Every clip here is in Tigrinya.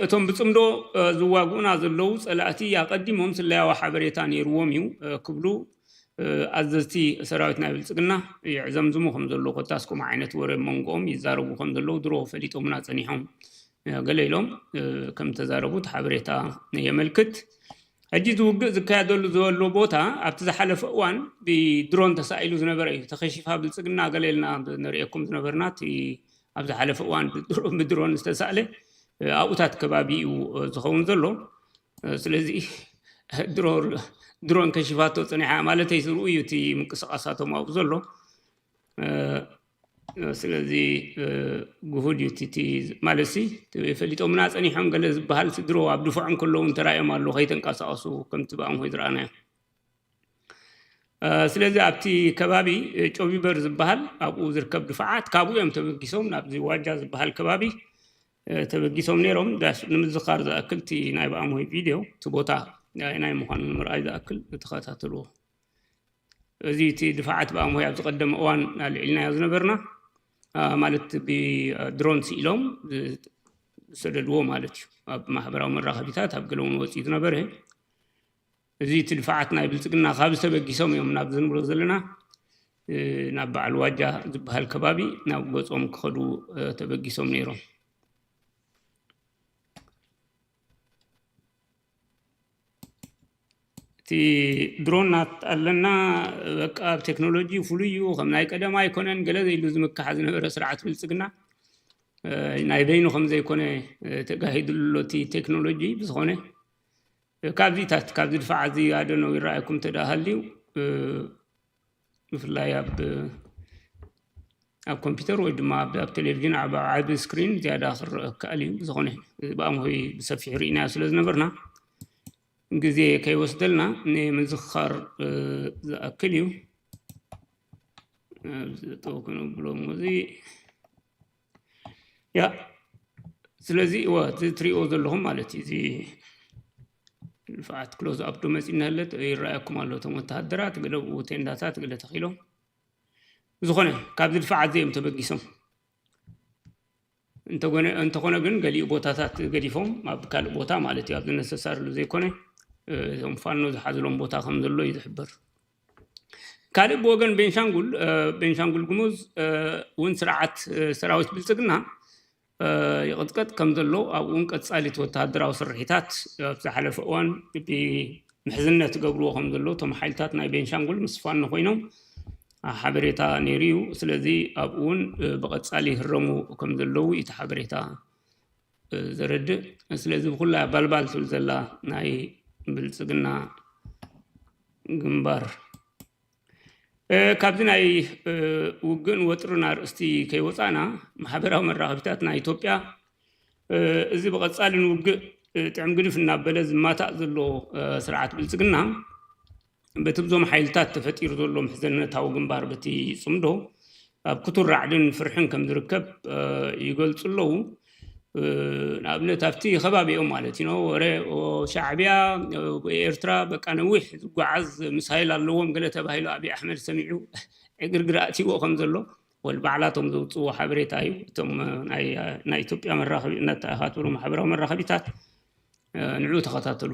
እቶም ብፅምዶ ዝዋግኡና ዘለዉ ፀላእቲ ኣቐዲሞም ስለያዊ ሓበሬታ ነይርዎም እዩ ክብሉ ኣዘዝቲ ሰራዊት ናይ ብልፅግና የዕዘምዝሙ ከም ዘለዉ ኮታስ ከምኡ ዓይነት ወረ መንጎኦም ይዛረቡ ከም ዘለዉ ድሮ ፈሊጦምና ፀኒሖም ገለ ኢሎም ከም ተዛረቡ እቲ ሓበሬታ የመልክት ሕጂ እዚ ውግእ ዝካየደሉ ዘሎ ቦታ ኣብቲ ዝሓለፈ እዋን ብድሮን ተሳኢሉ ዝነበረ እዩ ተኸሺፋ ብልፅግና ገለ ኢልና ንርእየኩም ዝነበርና እቲ ኣብ ዝሓለፈ እዋን ብድሮን ዝተሳእለ ኣብኡታት ከባቢ እዩ ዝኸውን ዘሎ ስለዚ ድሮን ከሽፋቶ ፀኒሓ ማለተይ ዝርኡ እዩ እቲ ምንቅስቃሳቶም ኣብኡ ዘሎ ስለዚ ግሁድ እዩ እቲ ማለት ሲ ፈሊጦምና ፀኒሖም ገለ ዝበሃል ድሮ ኣብ ድፎዖም ከለዉ ተራእዮም ኣለዉ ከይተንቀሳቀሱ ከምቲ ብኣንሆይ ዝረኣናዮ ስለዚ ኣብቲ ከባቢ ጮቢበር ዝበሃል ኣብኡ ዝርከብ ድፋዓት ካብኡ እዮም ተበጊሶም ናብዚ ዋጃ ዝበሃል ከባቢ ተበጊሶም ነይሮም ዳስ ንምዝኻር ዝኣክል እቲ ናይ ብኣሞይ ቪድዮ እቲ ቦታ ናይ ምዃኑ ንምርኣይ ዝኣክል ተኸታተልዎ እዚ እቲ ድፋዓት ብኣሞይ ኣብ ዝቀደመ እዋን ኣልዒልናዮ ዝነበርና ማለት ብድሮን ስኢሎም ዝሰደድዎ ማለት እዩ ኣብ ማሕበራዊ መራኸቢታት ኣብ ገለውን ወፂኡ ዝነበረ እዚ እቲ ድፋዓት ናይ ብልፅግና ካብዚ ተበጊሶም እዮም ናብዚ ንብሎ ዘለና ናብ በዓል ዋጃ ዝበሃል ከባቢ ናብ ገፆም ክኸዱ ተበጊሶም ነይሮም። እቲ ድሮናት ኣለና በቃ ኣብ ቴክኖሎጂ ፍሉይ እዩ ከም ናይ ቀደም ኣይኮነን ገለ ዘይሉ ዝምካሓ ዝነበረ ስርዓት ብልፅግና ናይ በይኑ ከም ዘይኮነ ተጋሂድሉ እቲ ቴክኖሎጂ ብዝኾነ ካብዚታት ካብዚ ድፋዓት እዚ ኣደነው ይረኣየኩም እንተ ሃልዩ ብፍላይ ኣብ ኣብ ኮምፒተር ወይ ድማ ኣብ ቴሌቭዥን ኣብ ዓቢ ስክሪን ዝያዳ ክረኣ ክከኣል እዩ። ብዝኾነ ብኣምሆይ ብሰፊሑ ርኢናዮ ስለ ዝነበርና ግዜ ከይወስደልና ንምዝኽኻር ዝኣክል እዩ። ኣብዚ ጠወኩ ነብሎ እዚ ያ ስለዚ እወ እቲ ትሪእዎ ዘለኹም ማለት እዩ እዚ ንፍዓት ክሎዝ ኣፕ ዶ መፂኡ እናሃለ ይረኣየኩም ኣሎ እቶም ወተሃደራት ገለ ኣብኡ ቴንዳታት ገለ ተኺሎም ዝኾነ ካብዚ ድፋዓት እዚ እዮም ተበጊሶም እንተኾነ እንተኾነ ግን ገሊኡ ቦታታት ገዲፎም ኣብ ካልእ ቦታ ማለት እዩ ኣብዚ ነሰሳርሉ ዘይኮነ እዞም ፋኖ ዝሓዝሎም ቦታ ከም ዘሎ እዩ ዝሕበር ካልእ ብወገን ቤንሻንጉል ቤንሻንጉል ጉሙዝ እውን ስርዓት ሰራዊት ብልፅግና ይቕጥቀጥ ከም ዘሎ ኣብኡ እውን ቀፃሊት ወተሃደራዊ ስርሒታት ኣብ ዝሓለፈ እዋን ብምሕዝነት ይገብርዎ ከም ዘሎ እቶም ሓይልታት ናይ ቤንሻንጉል ምስ ፋኖ ኮይኖም ሓበሬታ ነይሩ እዩ ስለዚ ኣብኡ እውን ብቐፃሊ ይህረሙ ከም ዘለዉ እቲ ሓበሬታ ዘረድእ ስለዚ ብኩላ ባልባል ትብል ዘላ ናይ ብልፅግና ግንባር ካብዚ ናይ ውግእን ወጥርን ኣርእስቲ ከይወፃእና ማሕበራዊ መራኸቢታት ናይ ኢትዮጵያ እዚ ብቐፃሊ ንውግእ ጥዕም ግድፍ እናበለ ዝማታእ ዘሎ ስርዓት ብልፅግና በቲ ብዞም ሓይልታት ተፈጢሩ ዘሎ ምሕዝነታዊ ግንባር በቲ ፅምዶ ኣብ ክቱር ራዕድን ፍርሕን ከም ዝርከብ ይገልፁ ኣለዉ። ንኣብነት ኣብቲ ከባቢኦም ማለት ዩ ወረ ሻዕቢያ ኤርትራ በቃ ነዊሕ ዝጓዓዝ ምሳይል ኣለዎም ገለ ተባሂሉ ኣብዪ ኣሕመድ ሰሚዑ ዕግርግር ኣእትይዎ ከም ዘሎ ወል ባዕላቶም ዘውፅዎ ሓበሬታ እዩ እቶም ናይ ኢትዮጵያ መራኸቢ እናተኣኻተሉ ማሕበራዊ መራኸቢታት ንዑ ተኸታተሉ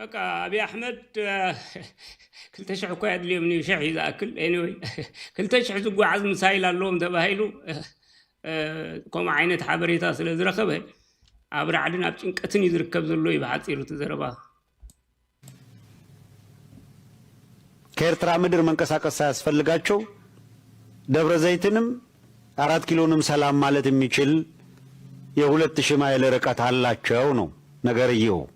በቃ ኣብይ ኣሕመድ ክልተ ሽሕ እኳ የድልዮም እዩ ሽሕ እዩ ዝኣክል ኤኒወይ ክልተ ሽሕ ዝጓዓዝ ምሳይል ኣለዎም ተባሂሉ ከምኡ ዓይነት ሓበሬታ ስለ ዝረኸበ ኣብ ራዕድን ኣብ ጭንቀትን እዩ ዝርከብ ዘሎ እዩ ብሓፂሩ እቲ ዘረባ ከኤርትራ ምድር መንቀሳቀስ ሳያስፈልጋቸው ደብረዘይትንም ኣራት ኪሎንም ሰላም ማለት የሚችል የሁለት ሺ ማይል ርቀት ኣላቸው ነው ነገርየው።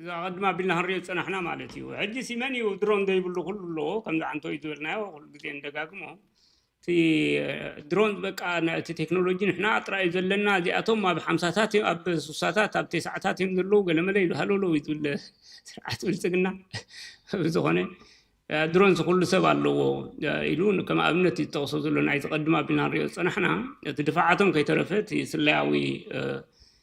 እዚ ኣቐድም ኣቢልና ክንሪኦ ዝጸናሕና ማለት እዩ። ሕጂሲ መን እዩ ድሮን ዘይብሉ ኩሉ ኣለዎ ከም ዝዓንተወይ ዝበልናዮ ኩሉ ግዜ ንደጋግሞ እቲ ድሮን በቃ እቲ ቴክኖሎጂ ንሕና ጥራይ እዩ ዘለና እዚኣቶም ኣብ ሓምሳታት እዮም ኣብ ስሳታት ኣብ ቴስዓታት እዮም ዘለዉ ገለመለ ኢሉ ሃለውለው እዩ ዝብል ስርዓት ብልፅግና ብዝኾነ ድሮንስ ኩሉ ሰብ ኣለዎ ኢሉ ከም ኣብነት እዩ ዝጠቕሶ ዘሎ ናይ ዝቐድም ኣቢልና ንሪኦ ዝፀናሕና እቲ ድፋዓቶም ከይተረፈ እቲ ስለያዊ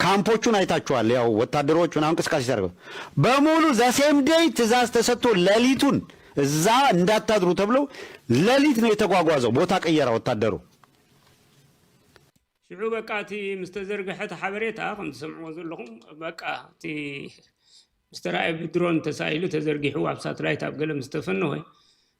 ካምፖቹን አይታችኋል። ያው ወታደሮች ምናምን እንቅስቃሴ ሲያደርጉ በሙሉ ዘሴም ደይ ትእዛዝ ተሰጥቶ ሌሊቱን እዛ እንዳታድሩ ተብሎ ሌሊት ነው የተጓጓዘው ቦታ ቀየራ ወታደሩ። ሽዑ በቃ እቲ ምስ ተዘርግሐ እቲ ሓበሬታ ከም ትሰምዕዎ ዘለኹም በቃ እቲ ምስ ተራእየ ብድሮን ተሳኢሉ ተዘርጊሑ ኣብ ሳትላይት ኣብ ገለ ምስ ተፈነወ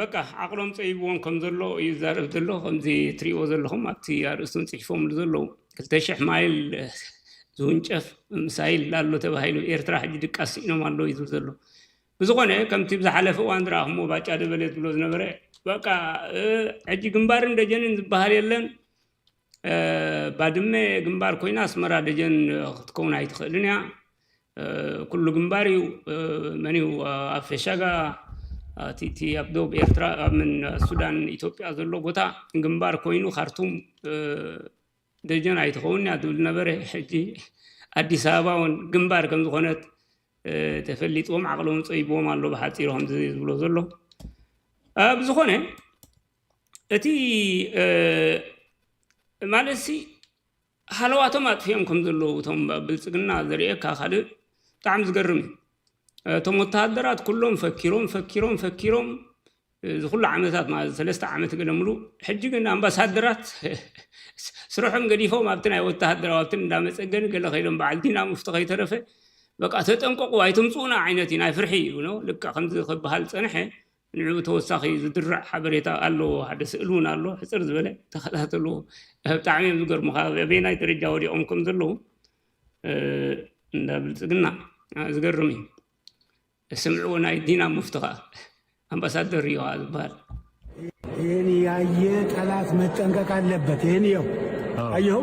በቃ ዓቕሎም ጸይብዎም ከም ዘሎ እዩ ዝዛረብ ዘሎ ከምዚ ትሪእዎ ዘለኹም ኣብቲ ኣርእስቶም ጽሒፎምሉ ዘለዉ ክልተ ሽሕ ማይል ዝውንጨፍ ምሳይል ኣሎ ተባሂሉ ኤርትራ ሕጂ ድቃስ ስኢኖም ኣለዉ እዩ ዝብል ዘሎ ብዝኾነ ከምቲ ብዝሓለፈ እዋን ዝረኣኹምዎ ባጫ ደበሌ ዝብሎ ዝነበረ በቃ ሕጂ ግንባርን ደጀንን ዝበሃል የለን ባድመ ግንባር ኮይና ኣስመራ ደጀን ክትከውን ኣይትኽእልን እያ። ኩሉ ግንባር እዩ። መን እዩ ኣብ ፌሻጋ እቲ ኣብ ዶብ ኤርትራ ምን ሱዳን ኢትዮጵያ ዘሎ ቦታ ግንባር ኮይኑ ካርቱም ደጀን ኣይትኸውን እያ ትብል ነበረ። ሕጂ ኣዲስ ኣበባ እውን ግንባር ከም ዝኾነት ተፈሊጥዎም ዓቕሎም ፀይብዎም ኣሎ ብሓፂሩ ከምዚ ዝብሎ ዘሎ ብዝኾነ እቲ ማለትሲ ሃለዋቶም ኣጥፊኦም ከም ዘለዉ እቶም ብልጽግና ዘርእየካ ካልእ ብጣዕሚ ዝገርም እዩ። እቶም ወተሃደራት ኩሎም ፈኪሮም ፈኪሮም ፈኪሮም እዚ ኩሉ ዓመታት ማለት ሰለስተ ዓመት ገለ ምሉእ ሕጂ ግን ኣምባሳደራት ስርሖም ገዲፎም ኣብቲ ናይ ወተሃደራዊ ኣብቲ እንዳ መጸገኒ ገለ ከይዶም በዓል ዲና ሙፍቲ ከይተረፈ በቃ ተጠንቀቑ ኣይትምጽኡና ዓይነት እዩ ናይ ፍርሒ እዩ ኖ ልክዕ ከምዚ ክበሃል ዝጸንሐ ንዕኡ ተወሳኺ ዝድርዕ ሓበሬታ ኣለዎ ሓደ ስእሊ ውን ኣሎ ሕጽር ዝበለ ተኸታተልዎ ብጣዕሚ እዮም ዝገርሙኻ ኣበየናይ ደረጃ ወዲቖም ከም ዘለዉ እንዳ ብልጽግና ዝገርም እዩ ስምዕዎ ናይ ዲና ሙፍቲ ኸኣ ኣምባሳደር እዩ ኸኣ ዝበሃል ይህን ያየ ጠላት መጠንቀቅ ኣለበት ይህን የው አየኸው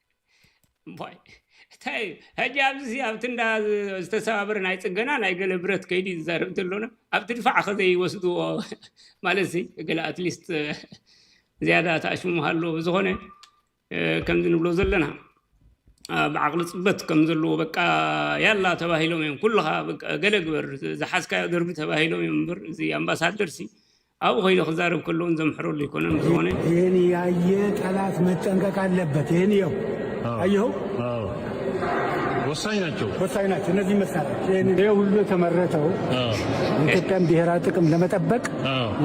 እምቧይ እንታይ እዩ ሕጂ ኣብዚ ኣብቲ እንዳ ዝተሰባበረ ናይ ፅገና ናይ ገለ ብረት ከይዲ ዝዛረብ እንተሎና ኣብቲ ድፋዕ ከዘይወስድዎ ማለት ሲ ገለ ኣትሊስት ዝያዳ ተኣሽሙ ሃሎ ብዝኾነ ከምዚ ንብሎ ዘለና ብዓቕሊ ፅበት ከም ዘለዎ በቃ ያላ ተባሂሎም እዮም ኩልኻ ገለ ግበር ዝሓዝካዮ ደርቢ ተባሂሎም እዮም እምበር እዚ ኣምባሳደር ሲ ኣብኡ ኮይኑ ክዛረብ ከሎ እውን ዘምሕረሉ ኣይኮነን ብዝኾነ ይህን ያየ ጠላት መጠንቀቅ ኣለበት። ይህን የው አየሁ ወሳኝ ናቸው ወሳኝ ናቸው እነዚህ መሳሪያዎች። ይህንን ይህ ሁሉ የተመረተው የኢትዮጵያን ብሔራዊ ጥቅም ለመጠበቅ፣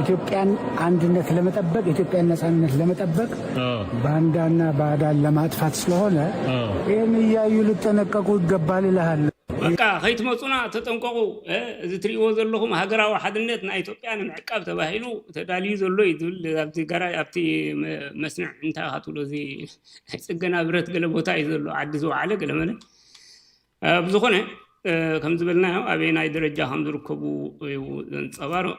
ኢትዮጵያን አንድነት ለመጠበቅ፣ ኢትዮጵያን ነጻነት ለመጠበቅ፣ ባንዳና ባዕዳን ለማጥፋት ስለሆነ ይህን እያዩ ልጠነቀቁ ይገባል እልሃለሁ። በቃ ከይትመፁና ተጠንቀቁ። እዚ ትሪእዎ ዘለኹም ሃገራዊ ሓድነት ናይ ኢትዮጵያ ንምዕቃብ ተባሂሉ ተዳልዩ ዘሎ እዩ ዝብል ኣብቲ ጋራጅ ኣብቲ መስርዕ እንታይ ኢኻ ትብሎ እዚ ናይ ፅገና ብረት ገለ ቦታ እዩ ዘሎ ዓዲ ዝወዓለ ገለ መለ ብዝኾነ ከም ዝበልናዮ ኣበየናይ ደረጃ ከም ዝርከቡ እዩ ዘንፀባርቕ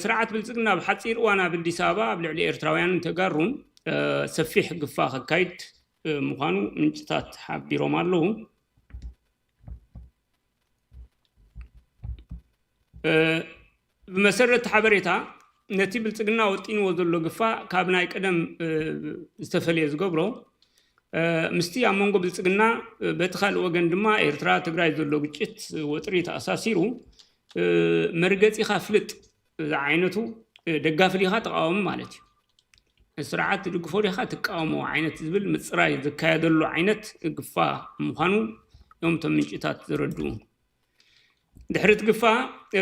ስርዓት ብልፅግና ኣብ ሓፂር እዋን ኣብ ኣዲስ ኣበባ ኣብ ልዕሊ ኤርትራውያንን ተጋሩን ሰፊሕ ግፋ ከካይድ ምዃኑ ምንጭታት ሓቢሮም ኣለዉ ብመሰረት ሓበሬታ ነቲ ብልፅግና ወጢንዎ ዘሎ ግፋ ካብ ናይ ቀደም ዝተፈለየ ዝገብሮ ምስቲ ኣብ መንጎ ብልፅግና በቲ ካልእ ወገን ድማ ኤርትራ ትግራይ ዘሎ ግጭት ወጥሪ ተኣሳሲሩ መርገፂኻ ፍልጥ እዚ ዓይነቱ ደጋፊ ዲኻ ተቓዋሚ ማለት እዩ። እዚ ስርዓት ትድግፎ ዲኻ ትቃወሞ ዓይነት ዝብል ምፅራይ ዝካየደሉ ዓይነት ግፋ ምዃኑ እዮም እቶም ምንጭታት ዘረድኡ። ድሕሪ እቲ ግፋ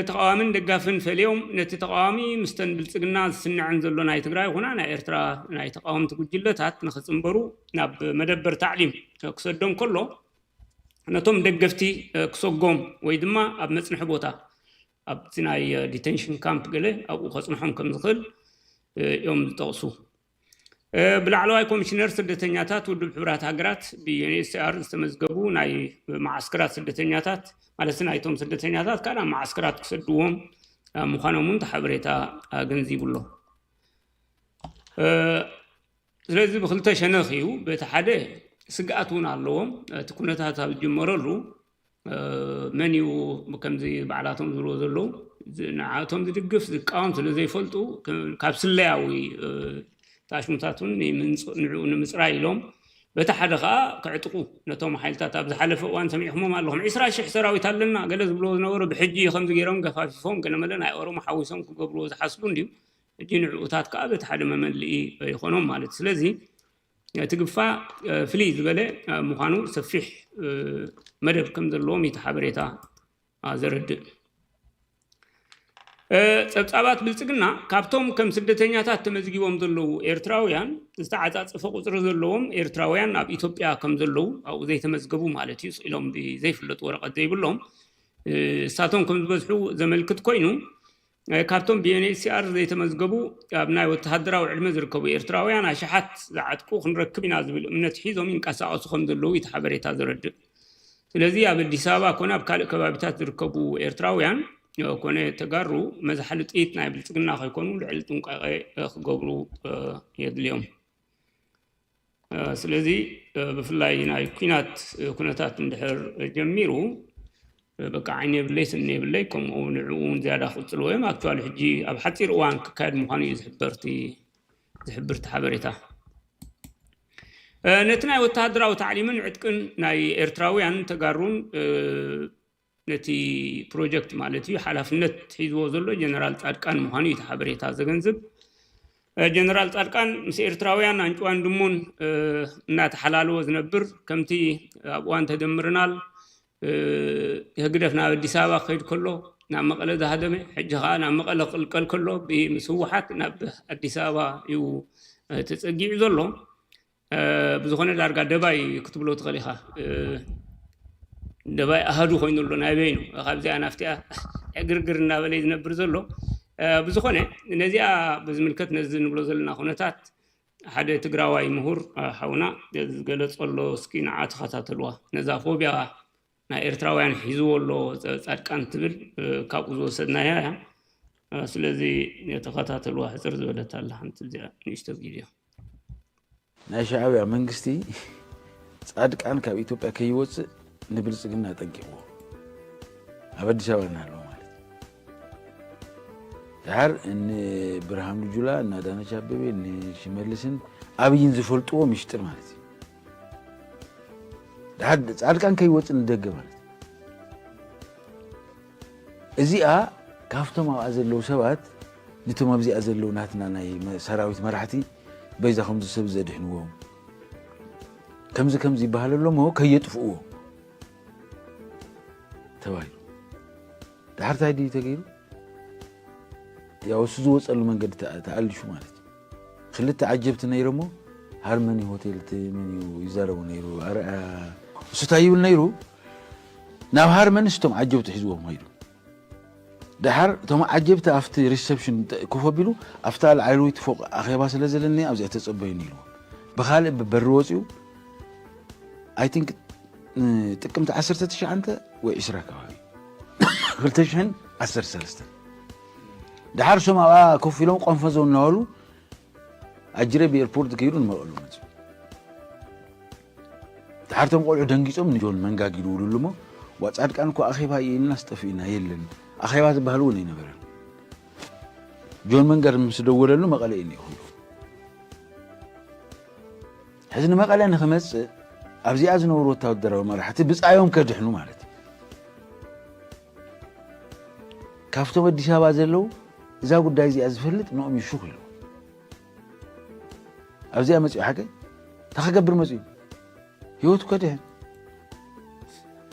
ተቓዋሚን ደጋፍን ፈልዮም ነቲ ተቓዋሚ ምስተን ብልፅግና ዝስነዐን ዘሎ ናይ ትግራይ ይኹና ናይ ኤርትራ ናይ ተቓወምቲ ጉጅለታት ንክፅምበሩ ናብ መደበር ታዕሊም ክሰዶም ከሎ ነቶም ደገፍቲ ክሰጎም ወይ ድማ ኣብ መፅንሒ ቦታ ኣብቲ ናይ ዲተንሽን ካምፕ ገለ ኣብኡ ከጽንሖም ከም ዝኽእል እዮም ዝጠቕሱ። ብላዕለዋይ ኮሚሽነር ስደተኛታት ውድብ ሕቡራት ሃገራት ብዩኤንኤችሲኣር ዝተመዝገቡ ናይ መዓስከራት ስደተኛታት ማለት ናይቶም ስደተኛታት ካልኣ መዓስከራት ክሰድዎም ምዃኖም እውን ተሓበሬታ ኣገንዚቡ ኣሎ ስለዚ ብክልተ ሸነኽ እዩ በቲ ሓደ ስግኣት እውን ኣለዎም እቲ ኩነታት ኣብ ዝጅመረሉ መን እዩ ከምዚ ባዕላቶም ዝብልዎ ዘለዉ ንዓቶም ዝድግፍ ዝቃወም ስለ ዘይፈልጡ ካብ ስለያዊ ታሽሙታትን ንዕኡ ንምፅራይ ኢሎም በቲ ሓደ ከዓ ክዕጥቁ ነቶም ሓይልታት ኣብ ዝሓለፈ እዋን ሰሚዕኹሞም ኣለኹም ዕስራ ሽሕ ሰራዊት ኣለና ገለ ዝብልዎ ዝነበሩ ብሕጂ ከምዚ ገይሮም ገፋፊፎም ገለ መለ ናይ ኦሮሞ ሓዊሶም ክገብርዎ ዝሓስቡ እንድዩ ሕጂ ንዕኡታት ከዓ በቲ ሓደ መመልኢ ይኾኖም ማለት ስለዚ እቲ ግፋ ፍልይ ዝበለ ምዃኑ ሰፊሕ መደብ ከም ዘለዎም እዩ እቲ ሓበሬታ ዘረድእ። ጸብጻባት ብልጽግና ካብቶም ከም ስደተኛታት ተመዝጊቦም ዘለዉ ኤርትራውያን ዝተዓጻጸፈ ቁጽሪ ዘለዎም ኤርትራውያን ኣብ ኢትዮጵያ ከም ዘለዉ ኣብኡ ዘይተመዝገቡ ማለት እዩ ስኢሎም ብዘይፍለጡ ወረቐት ዘይብሎም እሳቶም ከም ዝበዝሑ ዘመልክት ኮይኑ ካብቶም ብዩንኤችሲኣር ዘይተመዝገቡ ኣብ ናይ ወተሃደራዊ ዕድመ ዝርከቡ ኤርትራውያን ኣሽሓት ዝዓጥቁ ክንረክብ ኢና ዝብል እምነት ሒዞም ይንቀሳቐሱ ከም ዘለዉ እቲ ሓበሬታ ዘረድእ። ስለዚ ኣብ ኣዲስ ኣበባ ኮነ ኣብ ካልእ ከባቢታት ዝርከቡ ኤርትራውያን ኮነ ተጋሩ መዛሕሊ ጥይት ናይ ብልፅግና ከይኮኑ ልዕሊ ጥንቃቐ ክገብሩ የድልዮም። ስለዚ ብፍላይ ናይ ኲናት ኩነታት እንድሕር ጀሚሩ በቃ ዓይኒ የብለይ ስኒ የብለይ ከምኡ ንዕኡ እውን ዝያዳ ክቕፅልዎ እዮም። ኣክቹዋሊ ሕጂ ኣብ ሓፂር እዋን ክካየድ ምዃኑ እዩ ዝሕበር እቲ ዝሕብር እቲ ሓበሬታ። ነቲ ናይ ወተሃደራዊ ታዕሊምን ዕጥቅን ናይ ኤርትራውያን ተጋሩን ነቲ ፕሮጀክት ማለት እዩ ሓላፍነት ሒዝዎ ዘሎ ጀነራል ፃድቃን ምዃኑ እዩ እቲ ሓበሬታ ዘገንዝብ። ጀነራል ፃድቃን ምስ ኤርትራውያን ኣንጭዋን ድሙን እናተሓላለወ ዝነብር ከምቲ ኣብ እዋን ተደምርናል ህግደፍ ናብ ኣዲስ ኣበባ ክኸይድ ከሎ ናብ መቐለ ዝሃደመ ሕጂ ከዓ ናብ መቐለ ክቕልቀል ከሎ ምስ ህወሓት ናብ ኣዲስ ኣበባ እዩ ተፀጊዑ ዘሎ ብዝኾነ ዳርጋ ደባይ ክትብሎ ትኽእል ኢኻ ደባይ ኣሃዱ ኮይኑ ኣሎ ናይ በይኑ ካብዚኣ ናፍቲኣ ዕግርግር እናበለ እዩ ዝነብር ዘሎ ብዝኾነ ነዚኣ ብዝምልከት ነዚ ንብሎ ዘለና ኩነታት ሓደ ትግራዋይ ምሁር ሓውና ዝገለፆ ኣሎ እስኪ ንዓ ተኸታተልዋ ነዛ ፎብያ ናይ ኤርትራውያን ሒዝዎ ኣሎ ጻድቃን ትብል ካብኡ ዝወሰድናያ እያ ስለዚ ተኸታተልዋ ሕፅር ዝበለት ኣላ ሓንቲ እዚኣ ንእሽቶ ቪድዮ ናይ ሻዕብያ መንግስቲ ጻድቃን ካብ ኢትዮጵያ ከይወፅእ ንብልፅግና ጠንቂቑዎ ኣብ ኣዲስ ኣበባ እናሃለዎ ማለት ድሓር ንብርሃኑ ጁላ እናዳነች ኣበቤ ንሽመልስን ኣብይን ዝፈልጥዎ ሚሽጥር ማለት እዩ ዳሓር ፃድቃን ከይወፅ ንደገ ማለት እዚኣ ካብቶም ኣብኣ ዘለዉ ሰባት ነቶም ኣብዚኣ ዘለዉ ናትና ናይ ሰራዊት መራሕቲ በይዛ ከምዚ ሰብ ዘድሕንዎም ከምዚ ከምዚ ይበሃል ኣሎ ሞ ከየጥፍእዎ ተባሂሉ ዳሓር እንታይ ድዩ ተገይሩ ያው እሱ ዝወፀሉ መንገዲ ተኣልሹ ማለት እዩ ክልተ ዓጀብቲ ነይሮሞ ሃርመኒ ሆቴል እቲ መን እዩ ይዛረቡ ነይሩ ኣርኣያ እሱ እንታይ ይብል ነይሩ ናብ ሃርመኒስ እቶም ዓጀብቲ ሒዝዎም ኸይዱ ድሓር እቶም ዓጀብቲ ኣብቲ ሪሰፕሽን ኮፍ ኣቢሉ ኣብታ ላዕለወይቲ ፎቅ ኣኼባ ስለ ዘለኒ ኣብዚኣ ተፀበዩኒ ኢልዎም ብካልእ ብበሪ ወፂኡ ኣይ ቲንክ ጥቅምቲ 19 ወይ 20 ከባቢ 2013 ደሓር እሶም ኣብኣ ኮፍ ኢሎም ቆንፈዘው እናበሉ ኣጅሬ ብኤርፖርት ከይዱ ንመቐሉ መፅኡ ደሓር እቶም ቆልዑ ደንጊፆም ንጆን መንጋግ ይድውልሉ እሞ ዋ ፃድቃን እኮ ኣኼባ እዩ ኢልናስ ጠፊእና የለን ኣኼባ ዝበሃል እውን ኣይነበረን ጆን መንገድ ምስ ደወለሉ መቐለ እዩ እኒኦ ክብሉ ሕዚ ንመቐለ ንክመፅእ ኣብዚኣ ዝነበሩ ወታደራዊ መራሕቲ ብፃዮም ከድሕኑ ማለት እዩ ካብቶም ኣዲስ ኣበባ ዘለዉ እዛ ጉዳይ እዚኣ ዝፈልጥ ንኦም እዩ ሹክ ኢሉ ኣብዚኣ መፅኡ ሓቂ ተኸገብር መፅኡ ህይወቱ ከድሕን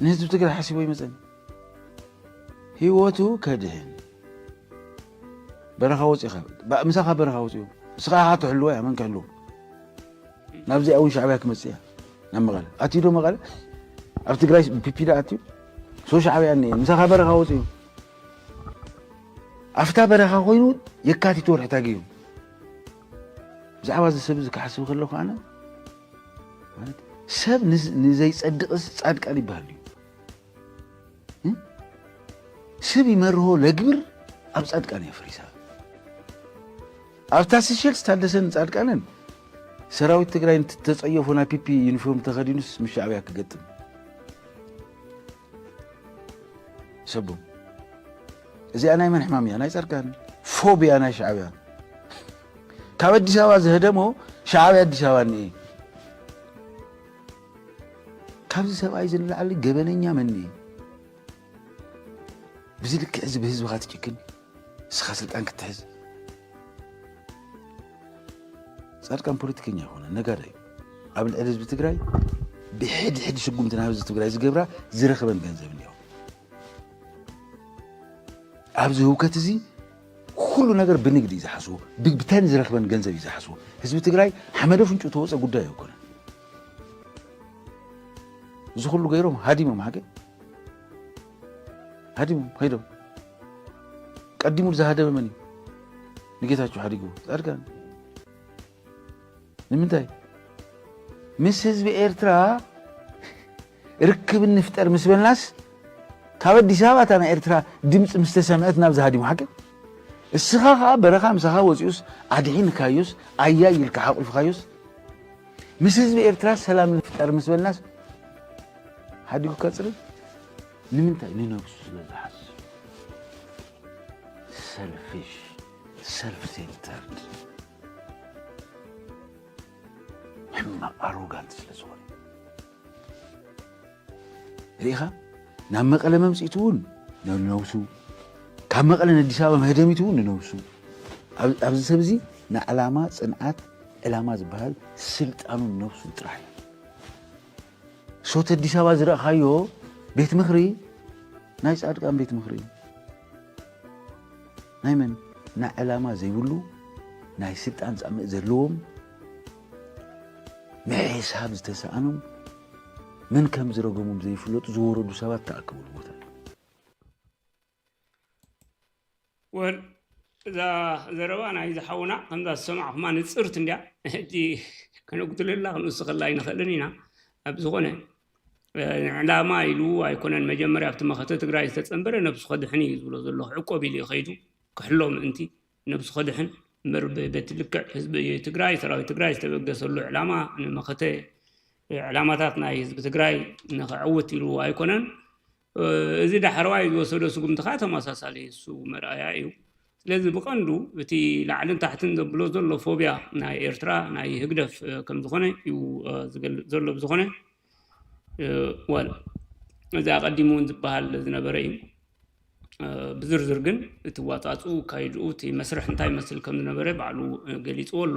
ንህዝቢ ትግራይ ሓሲቦ ይመፀን ህይወቱ ከድሕን በረኻ ወፂኻ ምሳኻ በረኻ ወፂኡ ንስኻ ኢኻ ትሕልዎ እያ መን ክሕልዎ ናብዚኣ እውን ሻዕብያ ክመፅእ እያ ናብ መቐለ ኣትዩ ዶ መቐለ ኣብ ትግራይ ፒፒ ዶ ኣትዩ ሶ ሻዕብያ እኒኤ ምሳኻ በረኻ ወፂኡ ኣፍታ በረኻ ኮይኑ የካቲት ወርሒ ታጊዩ ብዛዕባ እዚ ሰብ እዚ ክሓስብ ከለኹ ኣነ ማለት ሰብ ንዘይፀድቕስ ፃድቃን ይበሃል እዩ ስብ ይመርሆ ለግብር ኣብ ፃድቃን እያ ፈሪሳ ኣብታ ሲሸልስ ታደሰን ፃድቃንን ሰራዊት ትግራይ ተፀየፎ ናይ ፒፒ ዩኒፎርም ተኸዲኑስ ምስ ሻዕብያ ክገጥም ሰቡ እዚኣ ናይ መን ሕማም እያ ናይ ፃድቃን ፎብያ ናይ ሻዕብያ ካብ ኣዲስ ኣበባ ዝህደሞ ሻዕብያ ኣዲስ ኣበባ እኒኤ ካብዚ ሰብኣይ እዚ ንላዕሊ ገበነኛ መን እዩ? ብዚ ልክዕ እዚ ብህዝብኻ ትጭክን ንስኻ ስልጣን ክትሕዝ ፃድቃን ፖለቲከኛ ይኮነ ነጋዳ እዩ ኣብ ልዕሊ ህዝቢ ትግራይ ብሕድ ሕድ ስጉምቲ ናብ ህዝቢ ትግራይ ዝገብራ ዝረኽበን ገንዘብ እኒኦ ኣብዚ ህውከት እዚ ኩሉ ነገር ብንግዲ እዩ ዝሓስቦ ብተን ዝረኽበን ገንዘብ እዩ ዝሓስቦ ህዝቢ ትግራይ ሓመደ ፍንጩ ተወፀ ጉዳይ ኣይኮነን እዚ ኩሉ ገይሮም ሃዲሞም ሃገር ሃዲሞም ከይዶም ቀዲሙ ዝሃደመ መን እዩ? ንጌታቸው ሓዲጉ ፃድቃን ንምንታይ ምስ ህዝቢ ኤርትራ ርክብ ንፍጠር ምስ በልናስ ካብ ኣዲስ ኣበባ እታ ናይ ኤርትራ ድምፂ ምስ ተሰምዐት ናብዚ ሃዲሙ ሓቂ እስኻ ኸዓ በረኻ ምሳኻ ወፂኡስ ኣድሒንካዮስ ኣያይ ኢልካ ሓቒፍኻዮስ ምስ ህዝቢ ኤርትራ ሰላም ንፍጠር ምስ በልናስ ሓዲጉ ከፅሪ ንምንታይ ንነብሱ ስለ ዝሓስብ ሰልፊሽ ሰልፍ ሴንተርድ ሕማቕ ኣሮጋንት ስለ ዝኾነ ርኢኻ ናብ መቐለ መምፅኢቱ እውን ንነብሱ ካብ መቐለ ንኣዲስ ኣበባ መህደሚቱ እውን ንነብሱ ኣብዚ ሰብ እዚ ንዓላማ ፅንዓት ዕላማ ዝበሃል ስልጣኑ ነብሱ ጥራሕ እዩ ሶት ኣዲስ ኣበባ ዝረእኻዮ ቤት ምክሪ ናይ ፃድቃን ቤት ምክሪ እዩ ናይ መን ናይ ዕላማ ዘይብሉ ናይ ስልጣን ፃምእ ዘለዎም ምሕሳብ ዝተሳእኖም መን ከም ዝረገሞም ዘይፍለጡ ዝወረዱ ሰባት ተኣከብሉ ቦታ ወል እዛ ዘረባ ናይ ዝሓውና ከምዛ ዝሰማዕኹማ ንፅርት እንዲያ እቲ ከነጉትለላ ክንውስኸላ ኣይንኽእልን ኢና ኣብ ዝኾነ ንዕላማ ኢሉ ኣይኮነን መጀመርያ ኣብቲ መኸተ ትግራይ ዝተፀንበረ ነብሱ ከድሕን እዩ ዝብሎ ዘሎ ክዕቆብ ኢሉ እዩ ከይዱ ክሕሎ ምእንቲ ነብሱ ከድሕን እምበር በቲ ልክዕ ህዝቢ ትግራይ ሰራዊት ትግራይ ዝተበገሰሉ ዕላማ ንመኸተ ዕላማታት ናይ ህዝቢ ትግራይ ንኸዕውት ኢሉ ኣይኮነን። እዚ ዳሕረዋይ ዝወሰዶ ስጉምቲ ከዓ ተመሳሳሊ እሱ መርኣያ እዩ ስለዚ ብቐንዱ እቲ ላዕልን ታሕትን ዘብሎ ዘሎ ፎብያ ናይ ኤርትራ ናይ ህግደፍ ከም ዝኾነ እዩ ዝገልፅ ዘሎ ብዝኾነ ወል እዚ ኣቐዲሙ ውን ዝባሃል ዝነበረ እዩ። ብዝርዝር ግን እቲ ኣዋፃፅኡ ኣካይድኡ እቲ መስርሕ እንታይ ይመስል ከምዝነበረ ባዕሉ ገሊፅዎ ኣሎ።